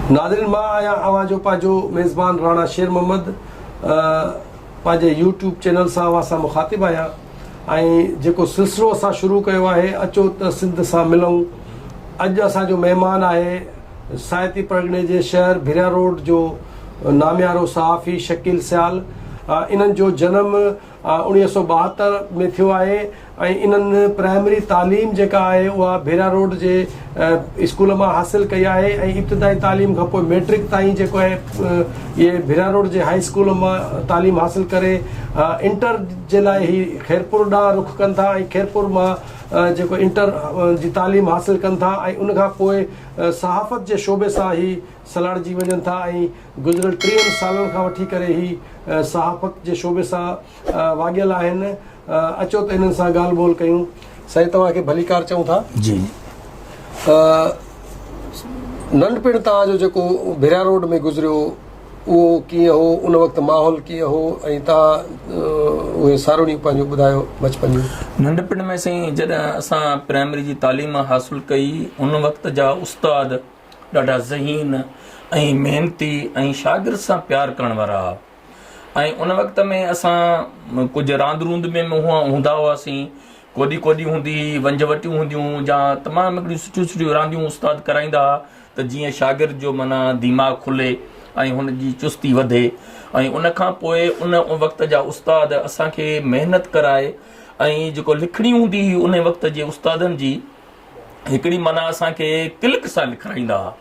ناظرين مان آهيان اوهان جو پنهنجو ميزبان راڻا شير محمد پنهنجي يوٽيوب چينل سان اوهان سان مخاطب آهيان ۽ جيڪو سلسلو اسان شروع ڪيو آهي اچو ته سنڌ سان ملون اڄ اسان جو مهمان آهي سائتي پرڳڻي جي شهر ڀريا روڊ جو ناميارو صحافي شڪيل سيال انهن جو جنم اڻيهه سؤ ٻاهتر ۾ ٿيو آهي ۽ انهن پرائمري تعليم جيڪا آهي اها ڀيرا روڊ جي اسڪول مان حاصل ڪئي آهي ۽ ابتدائي تعليم کان پوء ميٽرڪ تائين جيڪو آهي اهي ڀيرا روڊ جي هائي اسڪول مان تعليم حاصل ڪري انٽر جي لاء هي خيرپور ڏانهن رخ ڪن ٿا ۽ خيرپور مان جيڪو انٽر جي تعليم حاصل ڪن ٿا ۽ ان کان پوء صحافت جي شعبي سان هي سلهاڙجي وڃن ٿا ۽ گذريل ٽيهن سالن کان وٺي ڪري هي صحافت جي شعبي سان واڳيل آهن اچو ته انهن سان ڳالهه ٻولهه ڪيون. سائين توهان کي ڀليڪار چئون ٿا. جي ننڍپڻ توهان جو جيڪو ڀريا روڊ ۾ گذريو اهو ڪيئن هو ان وقت ماحول ڪيئن هو ۽ توهان اهي ساروڻيون پنهنجو ٻڌايو بچپن جون. ننڍپڻ ۾ سائين جڏهن اسان پرائمري جي تعليم حاصل ڪئي ان وقت جا استاد ڏاڍا ذهين ۽ محنتي ۽ شاگرد سان پيار ڪرڻ وارا هئا ۽ ان وقت ۾ اسان ڪجهه راند روند ۾ هوندا هئاسين ڪوڏي ڪوڏي هوندي هئي ونج وٽيون هونديون جا تمام هڪڙيون سٺيون سٺيون رانديون استاد ڪرائيندا هئا ته جيئن شاگرد جو منا دماغ کلي ۽ هن جي چستي وڌي ۽ ان کان پوء ان وقت جا استاد اسان کي محنت ڪرائي ۽ جيڪو لکڻي هوندي هئي ان وقت جي استادن جي هڪڙي معنيٰ اسان کي ڪلڪ سان لکرائيندا ها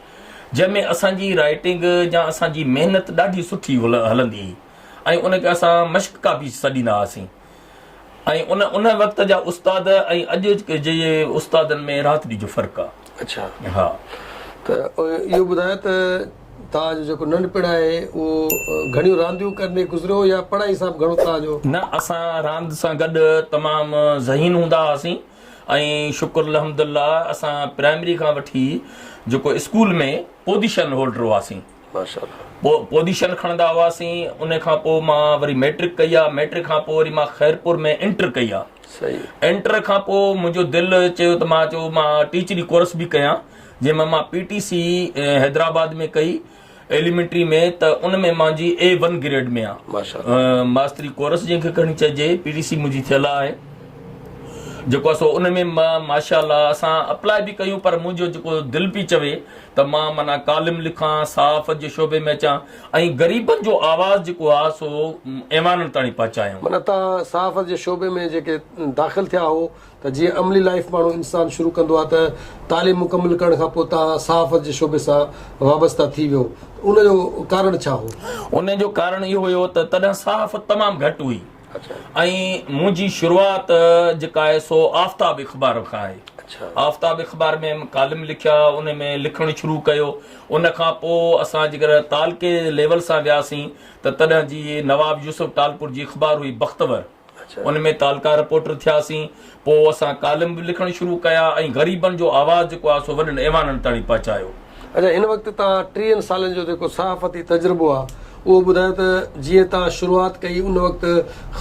جنهن ۾ اسان جي رائيٽنگ يا اسان جي محنت ڏاڍي سٺي هلندي هئي ۽ ان کي اسان مشق ڪاپي سڏيندا هئاسين ۽ ان ان وقت جا استاد ۽ اڄ جي استادن ۾ راتڙي جو فرق آ اڇا ها ته اهو ٻڌايو ته توهان جو جيڪو ننڍپڻ آهي اهو گهڻيون رانديون ڪندي گذريو يا پڙهائي سان به گهڻو توهان جو نه اسان راند سان گڏ تمام ذهين هوندا هئاسين ۽ شڪر الحمد الله اسان پرائمري کان وٺي جيڪو اسڪول ۾ پوزيشن هولڊر هئاسين پوزيشن کڻندا هئاسين ان کان پوء مان وري ميٽرڪ ڪئي آ ميٽرڪ کان پوء وري مان خيرپور ۾ انٽر ڪئي آ انٽر کان پوء منهنجو دل چيو ته مان چيو مان ٽيچري ڪورس به ڪيان جنهن مان مان پي ٽي سي حيدرآباد ۾ ڪئي ايليمينٽري ۾ ته ان ۾ مان جي اي ون گريڊ ۾ آهيان. ماشاءالله. ماستري ڪورس جنهن کي کڻي چئجي پي ٽي سي منهنجي ٿيل آهي جيڪو آهي سو ان ۾ مان ماشاءالله اسان اپلاء به ڪيون پر منهنجو جيڪو دل پي چوي ته مان معنيٰ ڪالم لکان صحافت جي شعبي ۾ اچان ۽ غريبن جو آواز جيڪو آهي سو ايوانن تائڻي پهچايان. معنيٰ توهان صحافت جي شعبي ۾ جيڪي داخل ٿيا هئو ته جيئن عملي لائف ماڻهو انسان شروع ڪندو آهي ته تعليم مڪمل ڪرڻ کان پوء تان صحافت جي شعبي سان وابسته ٿي ويو ان جو ڪارڻ ڇا هو؟ ان جو ڪارڻ اهو هيو ته تڏهن صحافت تمام گهٽ هئي ۽ منهنجي شروعات جيڪا آهي سو آفتاب اخبار کان آهي آفتاب اخبار ۾ ڪالم لکيا ان ۾ لکڻ شروع ڪيو ان کان پوء اسان جيڪر تعلقي ليول سان وياسين ته تڏهن جي نواب يوسف ٽالپور جي اخبار هئي بختور ان ۾ تعلقه رپورٽر ٿياسين. پوء اسان ڪالم به لکڻ شروع ڪيا ۽ غريبن جو آواز جيڪو آهي سو وڏن ايوانن تائڻي پهچايو. اچا هن وقت توهان ٽيهن سالن جو جيڪو صحافتي تجربو آهي اهو ٻڌايو ته جيئن توهان شروعات ڪئي ان وقت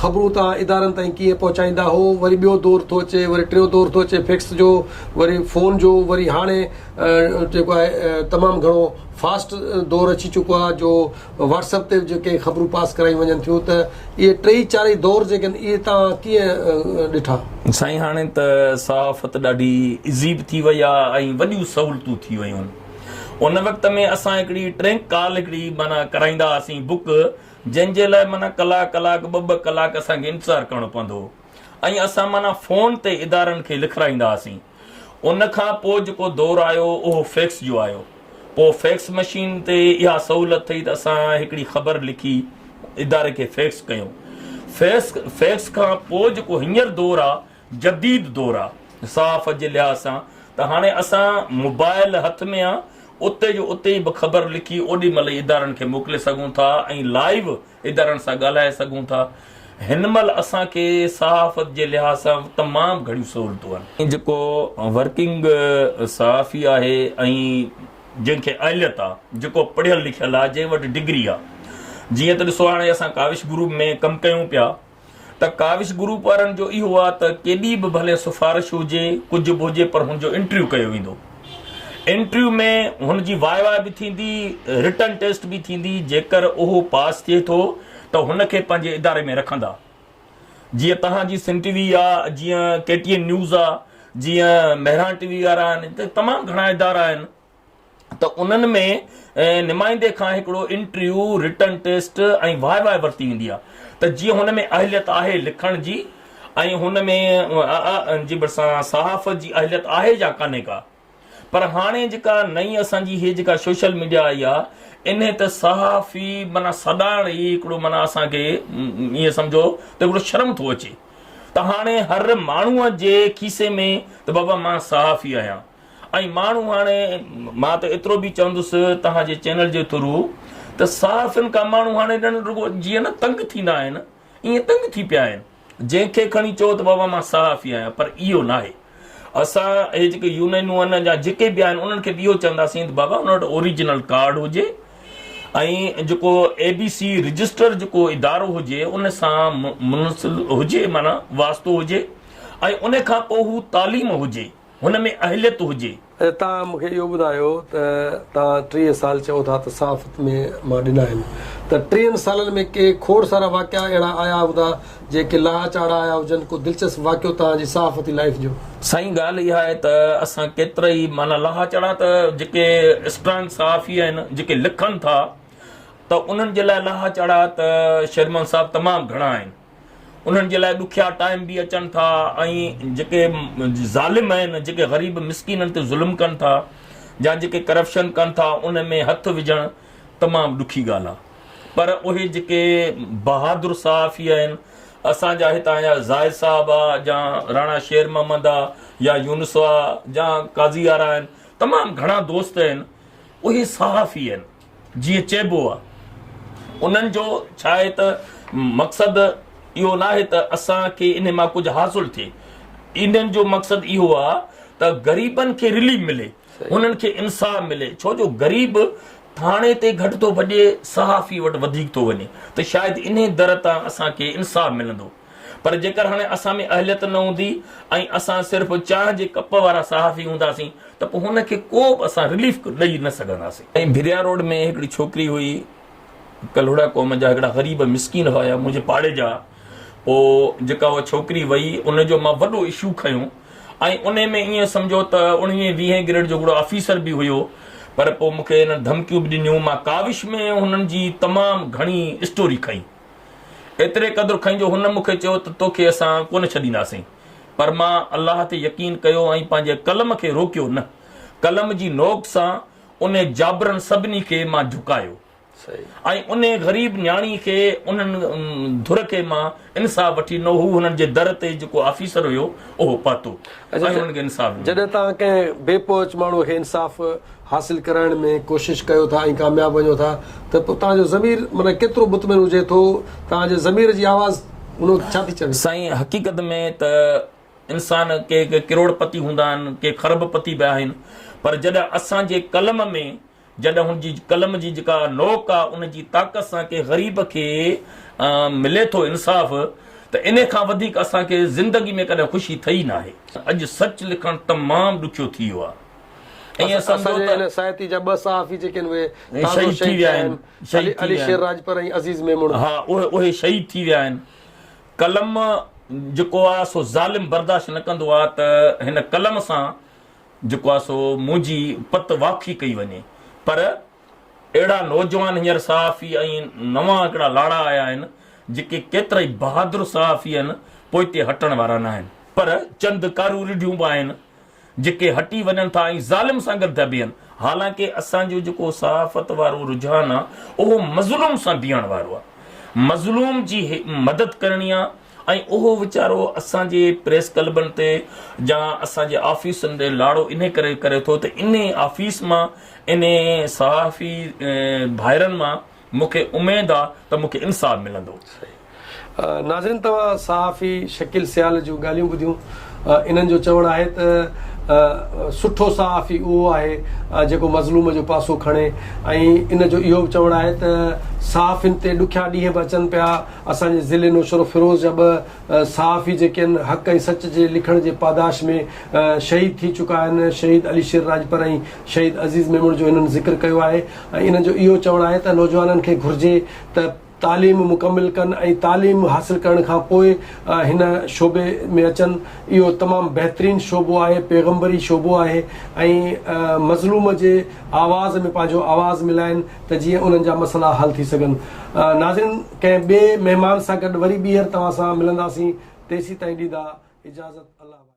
خبرون توهان ادارن تائين ڪيئن پهچائيندا هئو وري ٻيو دور ٿو اچي وري ٽيون دور ٿو اچي فيڪس جو وري فون جو وري هاڻي جيڪو آهي تمام گهڻو فاسٽ دور اچي چڪو آهي جو واٽس اپ تي جيڪي خبرون پاس ڪرايون وڃن ٿيون ته اهي ٽئي چارئي دور جيڪي آهن اهي توهان ڪيئن ڏٺا؟ سائين هاڻي ته صحافت ڏاڍي ايزي به ٿي وئي آهي ۽ وڏيون سهولتون ٿي ويون آهن ان وقت ۾ اسان هڪڙي ٽرينڪ ڪال هڪڙي معنيٰ ڪرائيندا هئاسين بڪ جنهن جي لاء معنيٰ ڪلاڪ ڪلاڪ ٻه ٻه ڪلاڪ اسان کي انتظار ڪرڻو پوندو هو ۽ اسان معنيٰ فون تي ادارن کي لکرائيندا هئاسين. ان کان پوء جيڪو دور آيو اهو فيڪس جو آيو. پوء فيڪس مشين تي اها سهولت ٿي ته اسان هڪڙي خبر لکي اداري کي فيڪس ڪيون. فيڪس فيڪس کان پوء جيڪو هينئر دور آ جديد دور آ صحافت جي لحاظ سان ته هاڻي اسان موبائل هٿ ۾ آ اتي جو اتي به خبر لکي اوڏي مهل ئي ادارن کي موڪلي سگهون ٿا ۽ لائيو ادارن سان ڳالهائي سگهون ٿا. هن مهل اسان کي صحافت جي لحاظ سان تمام گهڻيون سهولتون آهن. جيڪو ورڪنگ صحافي آهي ۽ جنهن کي اهليت آهي، جيڪو پڙهيل لکيل آهي، جنهن وٽ ڊگري آهي، جيئن ته ڏسو هاڻي اسان ڪاوش گروپ ۾ ڪم ڪيون پيا، ته ڪاوش گروپ وارن جو اهو آ ته ڪيڏي به ڀلي سفارش هجي ڪجهه به هجي پر هن جو انٽريو ڪيو ويندو انٽريو ۾ هن جي واء واء به ٿيندي رٽن ٽيسٽ به ٿيندي جيڪر اهو پاس ٿئي ٿو ته هن کي پنهنجي اداري ۾ رکندا جيئن توهان جي سنڌ ٽي وي آ جيئن ڪي ٽي اين نيوز آ جيئن مهراڻ ٽي وي وارا آهن تمام گهڻا ادارا آهن ته انهن ۾ نمائندي کان هڪڙو interview, written test ۽ viva ورتي ويندي آهي ته جيئن هن ۾ اهليت آهي لکڻ جي ۽ هن ۾ ان جي ڀرسان صحافت جي اهليت آهي يا ڪانهي ڪا. پر هاڻي جيڪا نئين اسان جي هي جيڪا سوشل ميڊيا آئي آهي انهي ته صحافي معنيٰ سڏائڻ ئي هڪڙو معنيٰ اسان کي ائين سمجهو ته هڪڙو شرم ٿو اچي ته هاڻي هر ماڻهوء جي کيسي ۾ ته بابا مان صحافي آهيان. ۽ ماڻهو هاڻي مان ته ايترو به چوندس توهان جي چينل جي ٿرو ته صحافين کان ماڻهو هاڻي ڄڻ رڳو جيئن نه تنگ ٿيندا آهن ائين تنگ ٿي پيا آهن جنهن کي کڻي چئو ته بابا مان صحافي آهيان پر اهو ناهي اسان هي جيڪي يونينون آهن يا جيڪي به آهن انهن کي به اهو چونداسين ته بابا ان وٽ اوريجنل ڪارڊ هجي ۽ جيڪو اي بي سي رجسٽر جيڪو ادارو هجي ان سان منسل هجي معنيٰ واسطو هجي ۽ ان کان پوء هو تعليم هجي هن ۾ اهليت هجي. اچا توهان مون کي اهو ٻڌايو ته توهان ٽيهه سال چئو ٿا ته صحافت ۾ مان ڏنا آهن ته ٽيهن سالن ۾ ڪي کوڙ سارا واقعا اهڙا آيا هوندا جنهن ڪي لاء چاڙها آيا هجن ڪو دلچسپ واقعو توهان جي صحافتي لائيف جو؟ سائين ڳالهه اها آهي ته اسان ڪيترائي معنيٰ لاها چاڙها ته جيڪي اسٽرانگ صحافي آهن جيڪي لکن ٿا ته انهن جي لاء لاها چاڙها ته شير محمد صاحب تمام گهڻا آهن. انهن جي لاء ڏکيا ٽائيم به اچن ٿا ۽ جيڪي ظالم آهن جيڪي غريب مسڪينن تي ظلم ڪن ٿا يا جيڪي ڪرپشن ڪن ٿا ان ۾ هٿ وجهڻ تمام ڏکي ڳالهه آهي پر اهي جيڪي بهادر صحافي آهن اسان جا هتان جا زاهد صاحب آ يا راڻا شير محمد آ يا يونس آ يا قاضي آرا آهن تمام گهڻا دوست آهن اهي صحافي آهن جيئن چئبو آ انهن جو ڇاهي ته مقصد اهو ناهي ته اسان کي انهن مان ڪجهه حاصل ٿئي انهن جو مقصد اهو آ ته غريبن کي رليف ملي انهن کي انصاف ملي ڇو جو غريب ٿاڻي تي گهٽ ٿو ڀڄي صحافي وٽ وڌيڪ ٿو وڃي ته شايد انهي در تان اسان کي انصاف ملندو. پر جيڪر هاڻي اسان ۾ اهليت نه هوندي ۽ اسان صرف چانهه جي ڪپ وارا صحافي هونداسين ته پوء هن کي ڪو به اسان رليف ڏئي نه سگهنداسين. ۽ ڀريا روڊ ۾ هڪڙي ڇوڪري هئي، ڪلهوڙا قوم جا هڪڙا غريب مسڪين هيا منهنجي پاڙي جا، پوء جيڪا اها ڇوڪري وئي ان جو مان وڏو اشو کنيو ۽ انهي ۾ ايئن سمجهو ته اڻويهين ويهين گريڊ جو هڪڙو آفيسر به هيو پر پوء مون کي هنن ڌمڪيون به ڏنيون مان ڪاوش ۾ هنن جي تمام گهڻي اسٽوري کنئي. ايتري قدر کئين جو هن مون کي چيو ته توکي اسان ڪونه ڇڏينداسين. پر مان الله تي يقين ڪيو ۽ پنهنجي قلم کي روڪيو نه. قلم جي نوڪ سان انهي جابرن سڀني کي مان جهڪايو ۽ انهي غريب نياڻي کي انهن ڌر کي مان انصاف وٺي ڏنو. هو هنن جي در تي جيڪو آفيسر هيو اهو پهتو ۽ انهن کي انصاف ڏنو. جڏهن توهان ڪنهن بي پهچ ماڻهو کي انصاف حاصل ڪرائڻ ۾ ڪوشش ڪيو ٿا ۽ ڪامياب وڃو ٿا ته پوء توهان جو ضمير معنيٰ ڪيترو مطمئن هجي ٿو توهان جي ضمير جي آواز ان وقت ڇا ٿي چوي؟ سائين حقيقت ۾ ته انسان ڪي ڪي ڪروڙ پتي هوندا آهن ڪي خرب پتي به آهن پر جڏهن اسان جي قلم ۾ جڏهن هن جي قلم جي جيڪا نوڪ آهي ان جي طاقت سان ڪي غريب کي ملي ٿو انصاف ته انهي کان وڌيڪ اسان کي زندگي ۾ ڪڏهن خوشي ٿئي ناهي. اڄ سچ لکڻ تمام ڏکيو ٿي ويو آهي. ائين سمجهو ته. اسان جي هن سائتي جا ٻه صحافي جيڪي آهن اهي تازو شهيد ٿيا آهن، علي شير راڄپر ۽ عزيز ميمڻ. ها اهي شهيد ٿي ويا آهن. قلم جيڪو آ سو ظالم برداشت نه ڪندو آ ته هن قلم سان جيڪو آ سو منهنجي پت واکي ڪئي وڃي پر اهڙا نوجوان هينئر صحافي ۽ نوان هڪڙا لاڙا آيا آهن جيڪي ڪيترائي بهادر صحافي آهن پوئتي هٽڻ وارا ناهن پر چند ڪارون رڍيون به آهن. جيڪي هٽي وڃن ٿا ۽ ظالم سان گڏ ٿا بيهن، حالانڪه اسان جو جيڪو صحافت وارو رجحان آ اهو مظلوم سان بيهڻ وارو آ، مظلوم جي مدد ڪرڻي آ ۽ اهو ويچارو اسان جي پريس ڪلبن تي يا اسان جي آفيسن تي لاڙو انهي ڪري ڪري ٿو ته انهي آفيس مان انهي صحافي ڀائرن مان مون کي اميد آ ته مون کي انصاف ملندو. ناظرين توهان صحافي شڪيل سيال جون ڳالهيون ٻڌيون انهن جو چوڻ آهي ته سٺو صحافي اهو آهي جيڪو مظلوم جو پاسو کڻي ۽ ان جو اهو به چوڻ آهي ته صحافين تي ڏکيا ڏينهن به اچن پيا اسان جي ضلعي نوشهروفيروز جا ٻه صحافي جيڪي آهن حق ۽ سچ جي لکڻ جي پاداش ۾ شهيد ٿي چڪا آهن شهيد علي شير راڄپر ۽ شهيد عزيز ميمڻ جو هنن ذڪر ڪيو آهي ۽ انهن جو اهو چوڻ آهي ته نوجوانن کي گهرجي ته تعليم مڪمل ڪن ۽ تعليم حاصل ڪرڻ کان پوء هن شعبي ۾ اچن اهو تمام بهترين شعبو آهي پيغمبري شعبو آهي ۽ مظلوم جي آواز ۾ پنهنجو آواز ملائن ته جيئن انهن جا مسئلا حل ٿي سگهن ناظرين ڪنهن ٻئي مهمان سان گڏ وري ٻيهر توهان سان ملنداسين تيسيتائين ڏيندا اجازت الله